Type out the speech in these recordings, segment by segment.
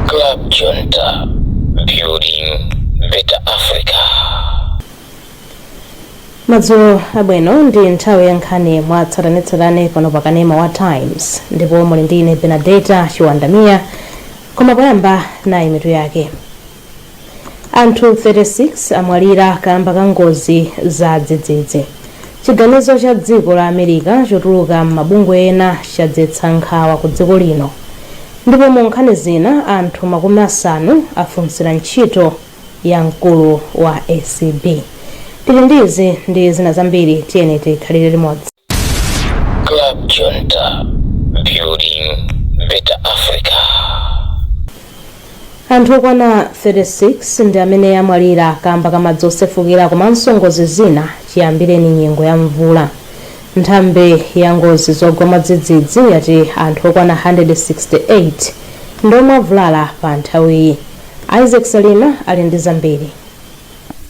Club Junta, building better Africa. madzulo abwino ndi nthawi ya nkhani mwa tsatanetsatane pano pa kanema wa times ndipo muli ndi ine benadetta chiwanda mia koma poyamba nayi mitu yake anthu 36 amwalira kamba ka ngozi za dzidzidzi chiganizo cha dziko la america chotuluka m'mabungwe ena chadzetsa nkhawa ku dziko lino ndipo mu nkhani zina anthu makumi asanu afunsira ntchito ya mkulu wa acb tili ndi izi ndi zina zambiri tiyeni tikhalire limodzi Club Junta, building better Africa. anthu okwana 36 ndi amene amwalira kamba ka madzi osefukira komanso ngozi zina chiyambireni nyengo ya mvula nthambi ya ngozi zogwa mwadzidzidzi yati anthu okwana 168 ndi omwe avulala pa nthawiyi isaac salima ali ndi zambiri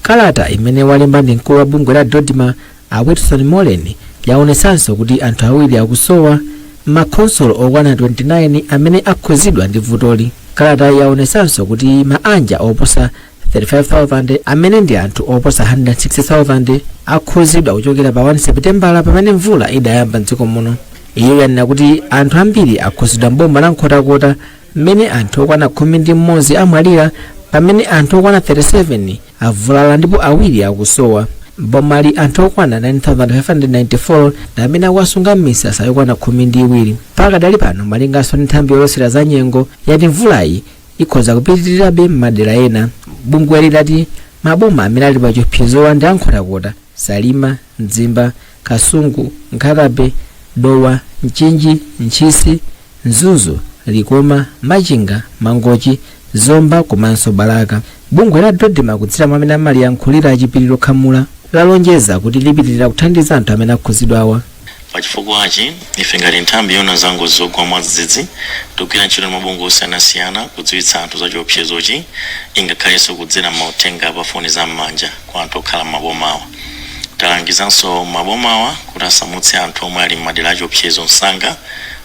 kalata imene walemba ndi mkulu wa bungwe la dodma a Wilson Moleni yaonetsanso kuti anthu awiri akusowa m'makhonsolo okwana 29 amene akhuzidwa ndi vutoli. Kalatayi yaonetsanso kuti maanja oposa 35,000 amene ndi anthu oposa 160,000 akhuzidwa kuchokera pa 1 Sepitembala pamene mvula idayamba m'dziko muno. Iyo yanena kuti anthu ambiri akhuzidwa m'boma la Nkhotakota mmene anthu okwana khumi ndi mmodzi amwalira pamene anthu okwana 37 avulala ndipo awiri akusowa. M'bomali anthu okwana 9,594 ndi amene akuwasunga m'misasa yokwana khumi ndi iwiri. Pakadali pano malinganso ndi nthambi yolosera za nyengo yati mvulayi ikhoza kupitirirabe m'madera ena. Bungweli lati maboma amene ali pa chiopsezowa ndi Nkhotakota, Salima, Mzimba, Kasungu, Nkhatabay, Dowa, Mchinji, Ntchisi, Mzuzu, Likoma, Machinga, Mangochi, Zomba komanso Balaka. Bungwe la DoDMA kudzera mwa amene amaliyankhulira a Chipiliro Khamula lalonjeza kuti lipitirira kuthandiza anthu amene akhudzidwawa. pa chifukwachi ife ngati nthambi yoona za ngozi zogwa mwadzidzidzi tikugwira ntchito ndi mabungwe osiyanasiyana kudziwitsa anthu za chiopsezochi ingakhalenso kudzera m'mauthenga pa foni za m'manja kwa anthu okhala m'mabomawa. Talangizanso mabomawa kuti asamutse anthu omwe ali m'madera achiopsezo msanga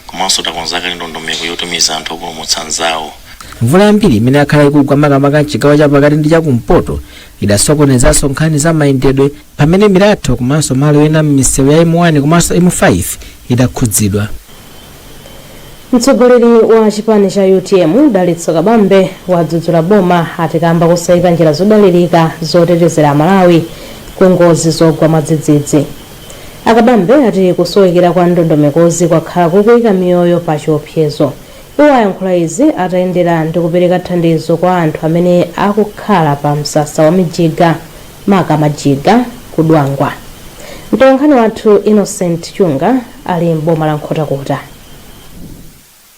komanso takonza kale ndondomeko yotumiza anthu opulumutsa anzawo. Mvula yambiri imene yakhala ikugwa makamaka m'chigawo chapakati ndi chakumpoto idasokonezanso nkhani za mayendedwe pamene milatho komanso malo ena m'misewu ya M1 komanso M5 idakhudzidwa. Mtsogoleri wa chipani cha utm Dalitso Kabambe wadzudzula boma ati kamba kosayika njira zodalirika zotetezera Amalawi ku ngozi zogwa mwadzidzidzi. A Kabambe ati kusowekera kwa ndondomekozi kwakhala kukuyika miyoyo pa chiopsezo. Iwo ayankhula izi atayendera ndi kupereka thandizo kwa anthu amene akukhala pa msasa wa Mijiga, maka Majiga, ku Dwangwa. Mtolankhani wathu Innocent Chunga ali m'boma la Nkhotakota.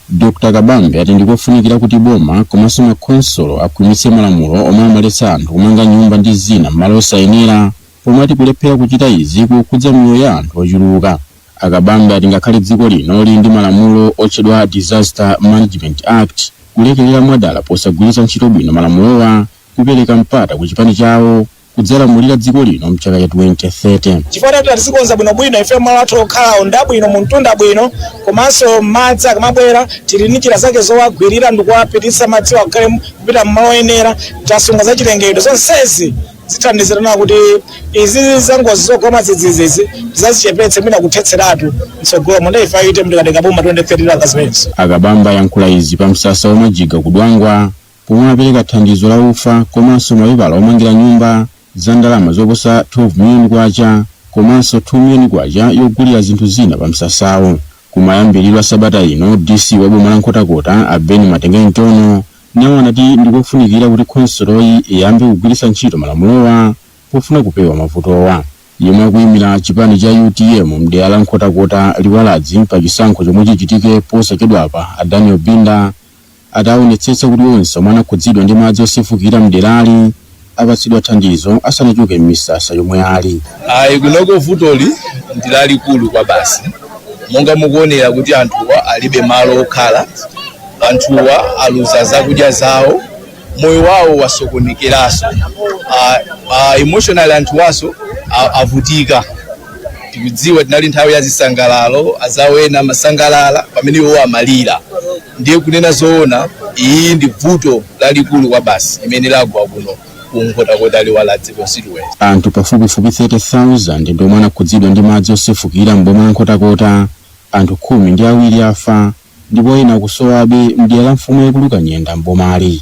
Dr Kabambe ati ndikofunikira kuti boma komanso makhonsolo akhwimitse malamulo omwe amaletsa anthu kumanga nyumba ndi zina m'malo osayenera pomwe ati kulephera kuchita izi kukukhudza miyoyo ya anthu ochuluka. A Kabambe ati ngakhale dziko lino lili ndi malamulo otchedwa Disaster Management Act kulekelera mwadala posagwiritsa ntchito bwino malamulowa kukupereka mpata ku chipani chawo kudzalamulira dziko lino mchaka cha 2030. chifukwa titati tizikonza bwinobwino ife malo athu okhalawo ndabwino mumtunda bwino komanso madzi akamabwera tili ndi njira zake zowagwirira ndikuwapititsa madziwo akhale kupita mmalo oyenera tasunga za chilengedwe zonsezi zithandizirana kuti izi zangozi zogwa mwadzidzidzizi tizazichepetse mwina kuthetseratu mtsogolo munthu ife ayite tikatenga boma 2030 langa zimenezo a Kabambe ayankhula izi pa msasa wa majiga ku dwangwa pomwe apereka thandizo la ufa komanso mapepala omangira nyumba za ndalama zoposa 12 miliyoni kwacha komanso 2 miliyoni kwacha yogulira zinthu zina pa msasawo. Kumayambiriro a sabata ino, DC wa boma la Nkhotakota a Ben Matengeni Tonho nawo anati ndi kofunikira kuti khonsoloyi iyambe kugwiritsa ntchito malamulowa pofuna kupewa mavutowa. Yemwe akuyimira chipani cha utm m'dera la Nkhotakota Liwaladzi pa chisankho chomwe chichitike posachedwapa a Daniel Binda Ati aonetsetsa kuti onse omwe anakhudzidwa ndi madzi osefukira mderali apatsidwa thandizo asanachoke m'misasa yomwe ali. Ayi kunoko vutoli ndilalikulu kwabasi monga mukuonera kuti anthuwa alibe malo okhala, anthuwa aluza zakudya zawo, moyo wawo wasokonekeraso emotionally anthuwaso avutika. Tikudziwa tinali nthawi ya zisangalalo azawo ena amasangalala pamene iwowo amalira. ndiye kunena zoona iyi ndi vuto lalikulu kwabasi imene lagwa kuno ku nkhotakota liwaladzi constituency anthu pafupifupi 30,000 ndi omwe anakhudzidwa ndi madzi osefukira m'boma la nkhotakota anthu khumi ndi awiri afa ndipo ena akusowabe mdera la mfumu yaikulu kanyenda m'bomali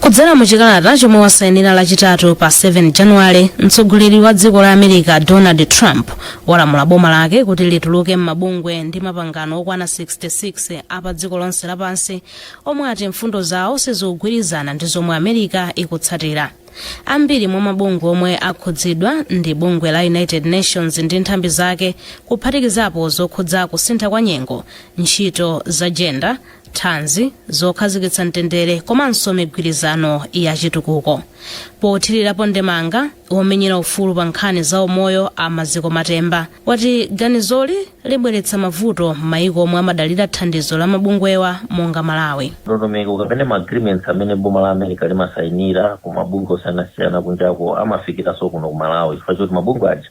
kudzera mu chikalata chomwe wasainira lachitatu pa 7 januwale mtsogoleri wa dziko la america donald trump walamula boma lake kuti lituluke m'mabungwe ndi mapangano okwana 66 a pa dziko lonse lapansi omwe ati mfundo zawo sizikugwirizana ndi zomwe america ikutsatira ambiri mwa mabungwe omwe akhudzidwa ndi bungwe la united nations ndi nthambi zake kuphatikizapo zokhudza kusintha kwa nyengo ntchito za jenda thanzi zokhazikitsa mtendere komanso migwirizano ya chitukuko pothirirapo ndemanga womenyera ufulu pa nkhani za umoyo a maziko matemba wati ganizoli libweretsa mavuto m'mayiko omwe amadalira thandizo la mabungwewa monga malawi ndondomeko kapena ma agreements amene boma la america limasayinira ku mabungwe osiyanasiyana kunjako amafikiranso kuno ku malawi chifukwa choti mabungwe aja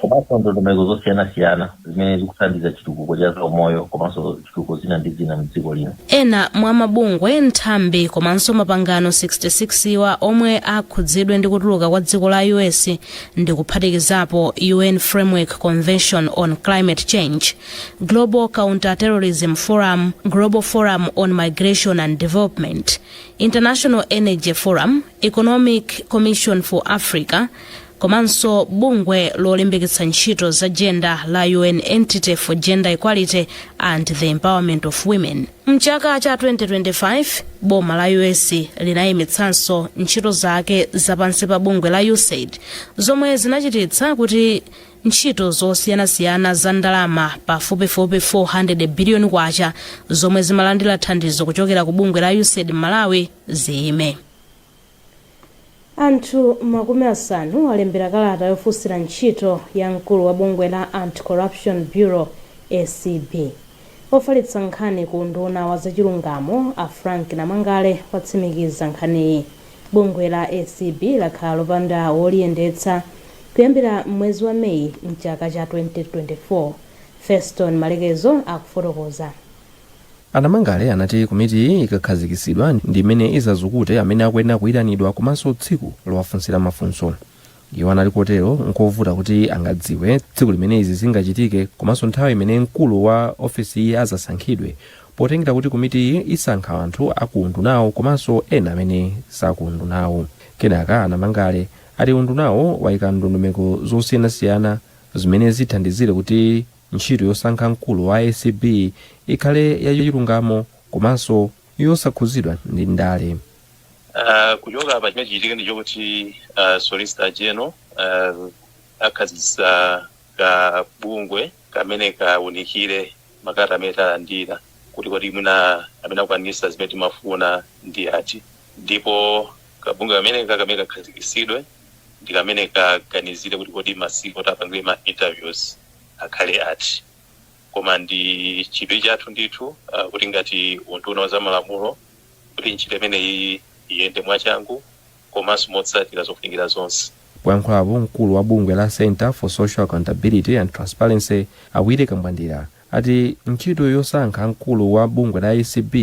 komanso ndondomeko zosiyanasiyana zimene zikuthandiza chitukuko cha zaumoyo komanso chitukuko zina ndi zina mdziko lino ena mwa mabungwe nthambi komanso mapangano 66-wa omwe akhudzidwe ndi kutuluka kwa dziko la us ndi kuphatikizapo un framework convention on climate change global counterterrorism forum global forum on migration and development international energy forum economic commission for africa komanso bungwe lolimbikitsa ntchito za jenda la un entity for gender equality and the empowerment of women mchaka cha 2025 boma la us linayimitsanso ntchito zake za pansi pa bungwe la usaid zomwe zinachititsa kuti ntchito zosiyanasiyana za ndalama pafupifupi 400 biliyoni kwacha zomwe zimalandira thandizo kuchokera ku bungwe la usaid malawi ziyime Anthu makumi asanu alembera kalata yofunsira ntchito ya mkulu wa bungwe la Anti-Corruption Bureau, acb. Ofalitsa nkhani ku unduna wa zachilungamo, a Frank Namangale, watsimikiza nkhaniyi. Bungwe la acb lakhala lopanda woliyendetsa kuyambira m'mwezi wa May m'chaka cha 2024. Feston Malekezo akufotokoza. A Namangale anati komitiyi ikakhazikitsidwa ndi imene izazukute amene akuyenera kuyitanidwa komanso tsiku lowafunsira mafunso. Iwo anati kotero nkovuta kuti angadziwe tsiku limene izi zingachitike komanso nthawi imene mkulu wa ofesiyi azasankhidwe potengera kuti komitiyi isankha anthu a ku undunawu komanso ena amene si a ku undunawu. Kenako a Namangale ati undunawo wayika ndondomeko zosiyanasiyana zimene zithandizire kuti. Ntchito yosankha mkulu wa acb ikhale ya chilungamo komanso yosakhudzidwa ndi ndale. Kuchoka apa chimene chichitike ndi chokuti Solicitor General akhazikitsa ka bungwe kamene kaunikire makalata amene talandira kuti kodi mwina amene akukwanirisa zimene timafuna ndi ati ndipo ka bungwe kameneka kamene kakhazikitsidwe ndi kamene kaganizire kuti kodi masiku oti apangire ma interviews akhale ati. Koma ndi chidwi chathu ndithu uh, kuti ngati unduna wa zamalamulo kuti ntchito imeneyi iyende mwachangu komanso motsatira zofunikira zonse. Poyankhulapo mkulu wa bungwe la Centre for Social Accountability and Transparency a Willie Kambwandira ati ntchito yosankha mkulu wa bungwe la acb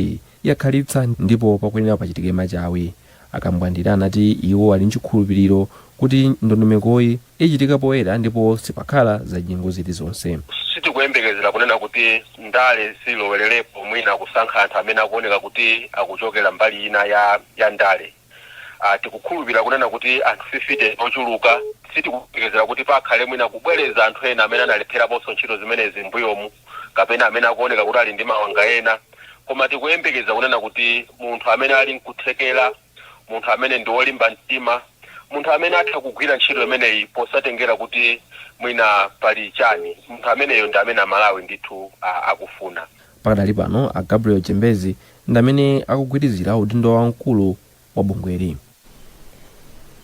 yakhalitsa ndipo pakuyenera pachitike machawi. A Kambwandira anati iwo ali nchikhulupiliro kuti ndondomekoyi ichitika poyera ndipo sipakhala zachinyengo zilizonse. Sitikuyembekezera kunena kuti ndale zilowelerepo mwina kusankha anthu amene akuoneka kuti akuchokera mbali ina ya ya ndale. a Tikukhulupirira kunena kuti anthu 50 ndi ochuluka. Sitikuyembekezera kuti pakhale mwina kubwereza anthu ena amene analepheraponso ntchito zimenezi m'mbuyomu kapena amene akuoneka kuti ali ndi mawanga ena. Koma tikuyembekeza kunena kuti munthu amene ali nkuthekera, munthu amene ndi wolimba mtima, munthu amene atha kugwira ntchito imeneyi posatengera kuti mwina pali chani, munthu ameneyo ndi amene Amalawi ndithu a akufuna. Pakadali pano a Gabriel Chembezi ndi amene akugwirizira udindo wa mkulu wa bungweli.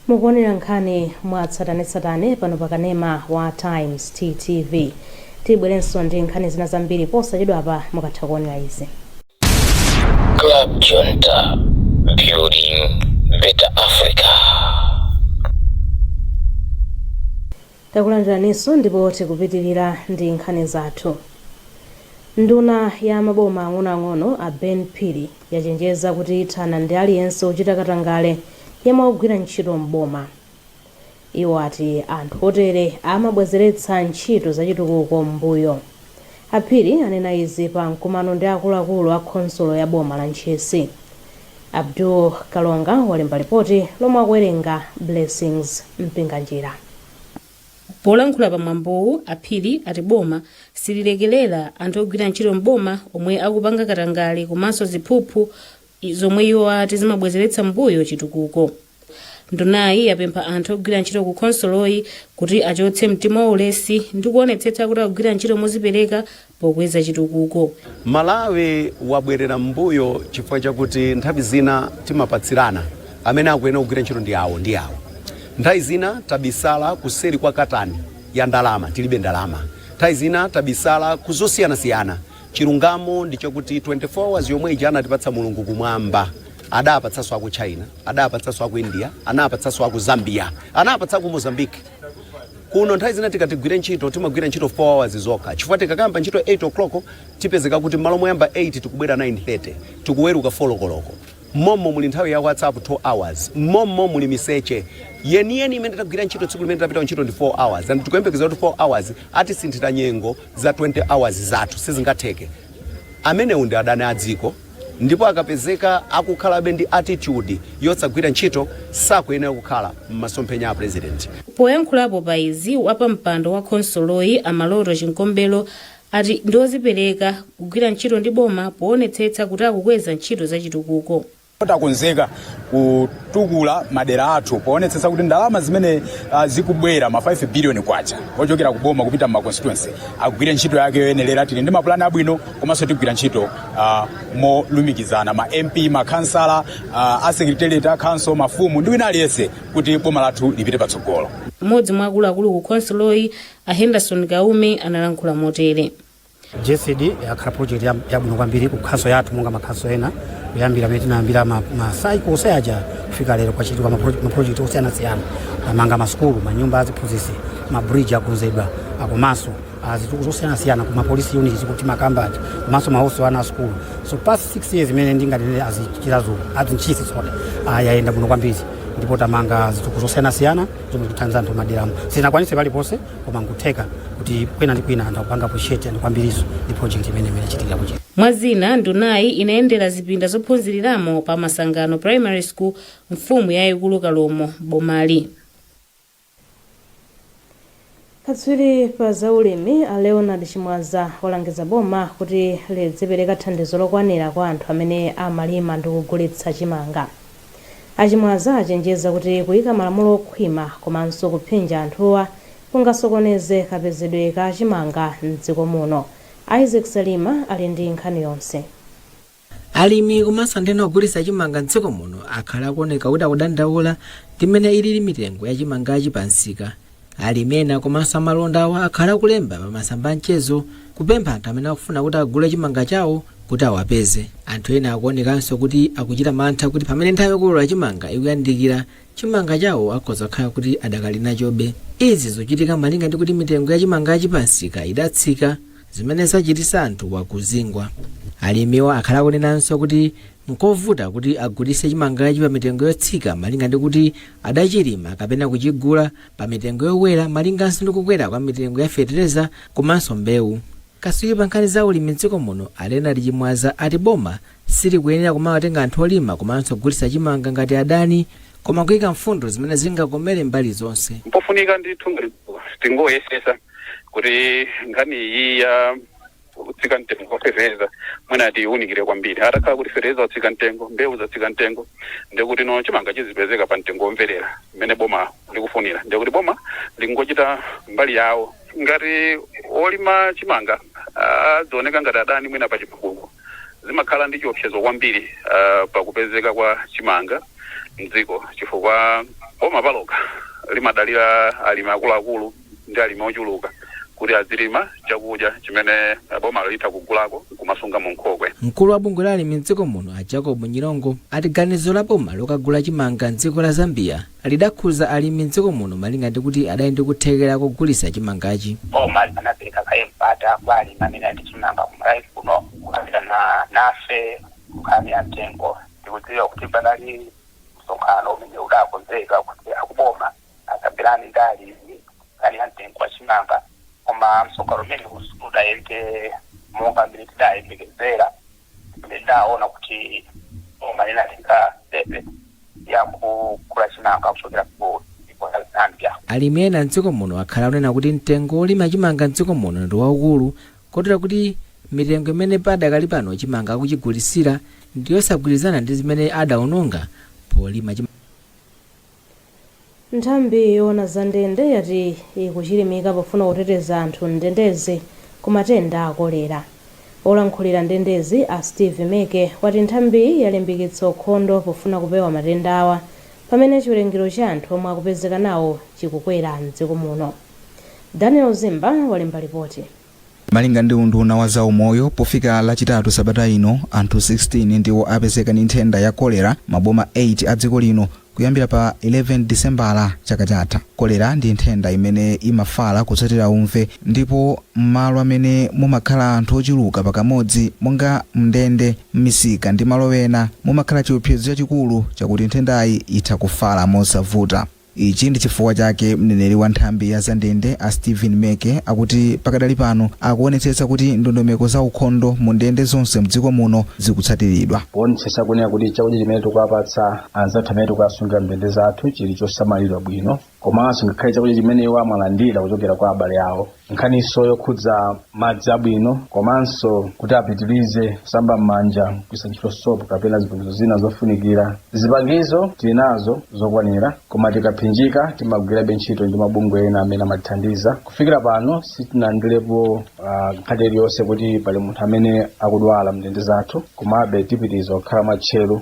Mukuonera nkhani mwatsatanetsatane pano pa kanema wa Times TTV. Tibwerenso ndi nkhani zina zambiri posachedwapa mukatha kuonera izi. Club Junta, building better Africa. Takulandiraninso ndipo tikupitilira ndi nkhani zathu. Nduna ya maboma ang'onoang'ono a Ben Phiri yachenjeza kuti ithana ndi aliyense ochita katangale yemwe akugwira ntchito m'boma. Iwo ati anthu otere amabwezeretsa ntchito zachitukuko m'mbuyo. A Phiri anena izi pa mkumano ndi akuluakulu a khonsolo ya boma la Ntchisi. Abdul Kalonga walemba lipoti lomwe akuwerenga Blessings Mpinganjira. Polankhula pa mwambowu, a Phiri ati boma sililekelera anthu ogwira ntchito m'boma omwe akupanga katangale komanso ziphuphu zomwe iwo ati zimabwezeretsa m'mbuyo chitukuko. ndunayi yapempha anthu ogwira ntchito ku khonsoloyi kuti achotse mtima wa ulesi ndi kuonetsetsa kuti akugwira ntchito mozipereka pokweza chitukuko malawi wabwerera m'mbuyo chifukwa chakuti nthawi zina timapatsirana amene akuyenera kugwira ntchito ndi awo ndi awo nthawi zina tabisala kuseri kwa katani ya ndalama tilibe ndalama nthawi zina tabisala kuzosiyanasiyana Chilungamo ndi chakuti 24 hours yomwe ija anatipatsa Mulungu kumwamba, adapatsanso aku China, adapatsanso aku India, anapatsanso aku Zambia, anapatsa aku Mozambique. Kuno nthawi zina tikati tigwire ntchito, timagwira ntchito 4 hours zokha chifukwa tikakamba ntchito 8 o'clock tipezeka kuti mmalo moyamba 8 tikubwera 9:30, tikuweruka 4 koloko. Mommo muli nthawi ya WhatsApp 2 hours. Mommo muli miseche. Yeniyeni imene tagwira ntchito tsiku limene tapita kuntchito ndi 4 hours and tikuyembekeza kuti 4 hours atisinthira nyengo za 20 hours zathu. Sizingatheke. Amenewo ndi adani a dziko ndipo akapezeka akukhalabe ndi attitude yosagwira ntchito sakuyenera kukhala m'masomphenya a President. Poyankhulapo pa izi, wapampando wa khonsoloyi a Maloto Chinkombelo ati ndi ozipereka kugwira ntchito ndi boma poonetsetsa kuti akukweza ntchito za chitukuko. takonzeka kutukula madera athu poonetsetsa kuti ndalama zimene uh, zikubwera ma 5 billion kwacha ochokera ku boma kupita m'ma constituency agwire ntchito yake yoyenerera tili ndi mapulani abwino komanso tigwira ntchito uh, molumikizana ma mp makhansala uh, asekretariat a council mafumu ndi wina aliyense kuti boma lathu lipite patsogolo mmodzi mwa akuluakulu ku khonsoloyi a henderson kaume analankhula motere gesd yakhala project ya- yabwino kwambiri ku khansolo yathu monga makhansolo ena kuyambira pamene tinayambira ma- macycle onse aja kufika lero kwachitika mapro- maprojekti osiyanasiyana tamanga masukulu manyumba aziphunzitsi mabridge akonzedwa komanso zitukuko zosiyanasiyana ku mapolisi unit zikuti makambati komanso mahostel a ana asukulu so past 6 years imene ndinganene azichirazo azinchisi so yayenda bwino kwambiri ndipo tamanga zitukuko zosiyanasiyana zomwe zikuthandiza anthu maderamu sizinakwanise paliponse koma nkutheka kuti kwina ndi kwina anthu akupanga appreciate kwambiri ndi project imene imene ichitika kuchita mwa zina ndunayi inayendera zipinda zophunziriramo pa masangano primary school mfumu yayikulu kalomo bomali Katswiri pa za ulimi a Leonard Chimwaza alangiza boma kuti lidzipereka thandizo lokwanira kwa anthu amene amalima ndi kugulitsa chimanga. A Chimwaza achenjeza kuti kuika malamulo okhwima komanso kuphinja anthuwa kungasokoneze kapezedwe ka chimanga m'dziko muno. Isaac Salima ali ndi nkhani yonse. alimi komanso anthu ena ogulitsa chimanga mdziko muno akhala akuoneka kuti akudandaula ndi mmene ilili mitengo ya chimangachi pa msika alimi ena komanso amalondawa akhala akulemba pa masamba a mchezo kupempha anthu amene akufuna kuti agule chimanga chawo kuti awapeze anthu ena akuonekanso kuti akuchita mantha kuti pamene nthawi yokolola chimanga ikuyandikira chimanga chawo akhoza kukhala kuti adakali nachobe izi zikuchitika malinga ndi kuti mitengo ya chimangachi pa msika idatsika zimene zachititsa anthu awa kuzingwa alimiwa akhala akunenanso kuti nkovuta kuti agulitse chimangachi pa mitengo yotsika malinga ndi kuti adachilima kapena kuchigula pa mitengo yokwera malinganso ndi kukwera kwa mitengo ya fetereza komanso mbewu Katswiri pa nkhani za ulimi m'dziko muno a Leonard Chimwaza ati boma silikuyenera kumawatenga anthu olima komanso ogulitsa chimanga ngati adani koma kuika mfundo zimene zingakomere mbali zonse. Mpofunika ndithu ngati tingoyesetsa kuti nkhani iyi ya kutsika mtengo kwa fertilizer mwina tiiwunikire kwambiri. Atakhala kuti fertilizer wotsika mtengo, mbewu zatsika mtengo, ndiye kuti no chimanga chizipezeka pa mtengo womverera mmene boma likufunira, ndiye kuti boma lingochita mbali yawo. Ngati olima chimanga adzioneka ngati adani mwina pa chitukuko, zimakhala ndi chiopsezo kwambiri pa kupezeka kwa chimanga m'dziko chifukwa boma palokha limadalira alimi akuluakulu ndi alimi ochuluka kuti adzilima chakudya chimene bomalo litha kugula nkumasunga mu nkhokwe. Mkulu wa bungwe la alimi m'dziko muno a Jacob Nyirongo ati ganizo la boma lokagula chimanga m'dziko la Zambia lidakhuza alimi m'dziko muno malinga ndi kuti adali ndi kuthekera kogulitsa chimangachi. Boma linapereka kaye mpata kwa alimi amene ali ndi chimanga ku Malawi kuno kukambirana nafe nkhani ya mtengo. Tikudziwa kuti panali msonkhano umene udakonzeka kuti akuboma akambirane ndi alimi nkhani ya mtengo wa chimanga koma msonkhano umenewu sudayende monga m'mene tidayembekezera. Ndinaona kuti boma linatenga sitepe ya kugula chimanga kuchokera ku dziko la Zambia. Alimi ena m'dziko muno akhala akunena kuti mtengo wolima chimanga m'dziko muno ndi waukulu kotero kuti mitengo imene padakali pano chimanga akuchigulitsira ndi yosagwirizana ndi zimene adaononga polima chimanga. Nthambi yoona za ndende yati ikuchilimika pofuna kuteteza anthu m'ndendezi ku matenda a kolera. Olankhulira ndendezi a Steve Meke wati nthambiyi yalimbikitsa ukhondo pofuna kupewa matendawa pamene chiwerengero cha anthu omwe akupezeka nawo chikukwera m'dziko muno. Daniel Zimba walemba lipoti. Malinga ndi unduna wa za umoyo, pofika lachitatu sabata ino, anthu 16 ndiwo apezeka ndi nthenda ya kolera maboma 8 a dziko lino kuyambira pa 11 Disembala chaka chatha. Kolera ndi nthenda imene imafala kutsatira umve ndipo m'malo amene mumakhala anthu ochuluka pakamodzi monga m'ndende, m'misika ndi malo ena, mumakhala chiopsezo chachikulu chakuti nthendayi itha kufala mosavuta. Ichi ndi chifukwa chake mneneri wa nthambi ya za ndende a Stephen Meke akuti pakadali pano akuonetsetsa kuti ndondomeko za ukhondo mu ndende zonse mdziko muno zikutsatiridwa. Kuonetsetsa kunena kuti chakudya chimene tikuwapatsa anzathu amene tikuwasungira mndende zathu chili chosamalidwa bwino komanso ngakhale chakudya chimene iwo amalandira kuchokera kwa abale awo, Nkhaninso yokhudza madzi abwino komanso kuti apitilize kusamba m'manja kugwiritsa ntchito sopo kapena zipangizo zina zofunikira. Zipangizo tili nazo zokwanira koma tikaphinjika timagwirabe ntchito ndi mabungwe ena amene amatithandiza. Kufikira pano sitinalandirepo nkhani iliyonse kuti pali munthu amene akudwala m'ndende zathu komabe tipitiriza kukhala mwatcheru.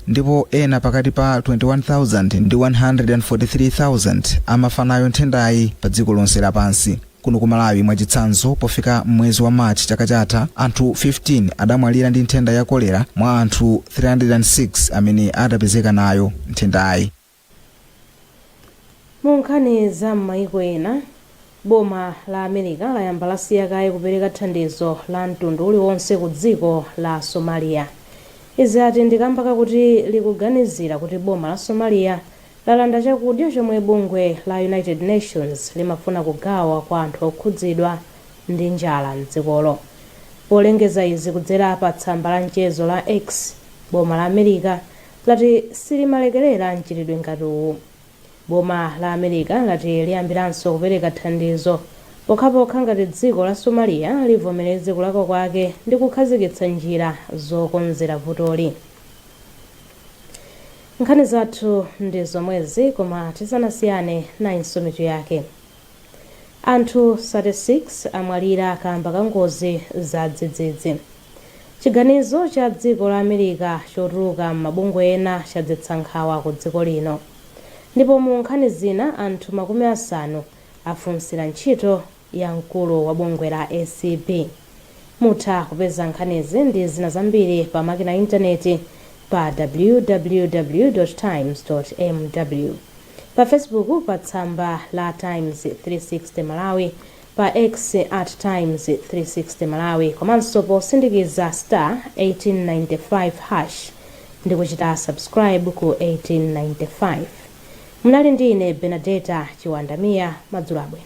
ndipo ena pakati pa 21,000 ndi 143,000 amafa nayo nthendayi pa dziko lonse lapansi. Kuno ku Malawi mwachitsanzo, pofika m'mwezi wa March chaka chatha, anthu 15 adamwalira ndi nthenda ya kolera mwa anthu 306 amene adapezeka nayo nthendayi. Mu nkhani za m'mayiko ena, Boma la America layamba lasiya kaye kupereka thandizo la mtundu uliwonse ku dziko la Somalia. Izi ati ndi kamba kakuti likuganizira kuti boma la Somalia lalanda chakudya chomwe bungwe la United Nations limafuna kugawa kwa anthu okhudzidwa ndi njala m'dzikolo. Polengeza izi kudzera pa tsamba la mchezo la X, Boma la America lati silimalekerera mchitidwe ngati uwu. Boma la America lati liyambiranso kupereka thandizo pokhapokha ngati dziko la Somalia livomereze kulakwa kwake ndi kukhazikitsa njira zokonzera vutoli. Nkhani zathu ndi zomwezi koma tisanasiyane, nayinso mitu yake. Anthu 36 amwalira kamba ka ngozi za dzidzidzi Chiganizo cha dziko la America chotuluka m'mabungwe ena chadzetsa nkhawa ku dziko lino Ndipo mu nkhani zina anthu makumi asanu afunsira ntchito ya mkulu wa bungwe la ACB. Mutha kupeza nkhanizi ndi zina zambiri pa makina a intaneti pa www.times.mw, pa Facebook pa tsamba la Times 360 Malawi, pa X at Times 360 Malawi komanso posindikiza star 1895 hash ndi kuchita subscribe ku 1895. Munali ndi ine Bernadetta Chiwanda Mia, madzulo abwino.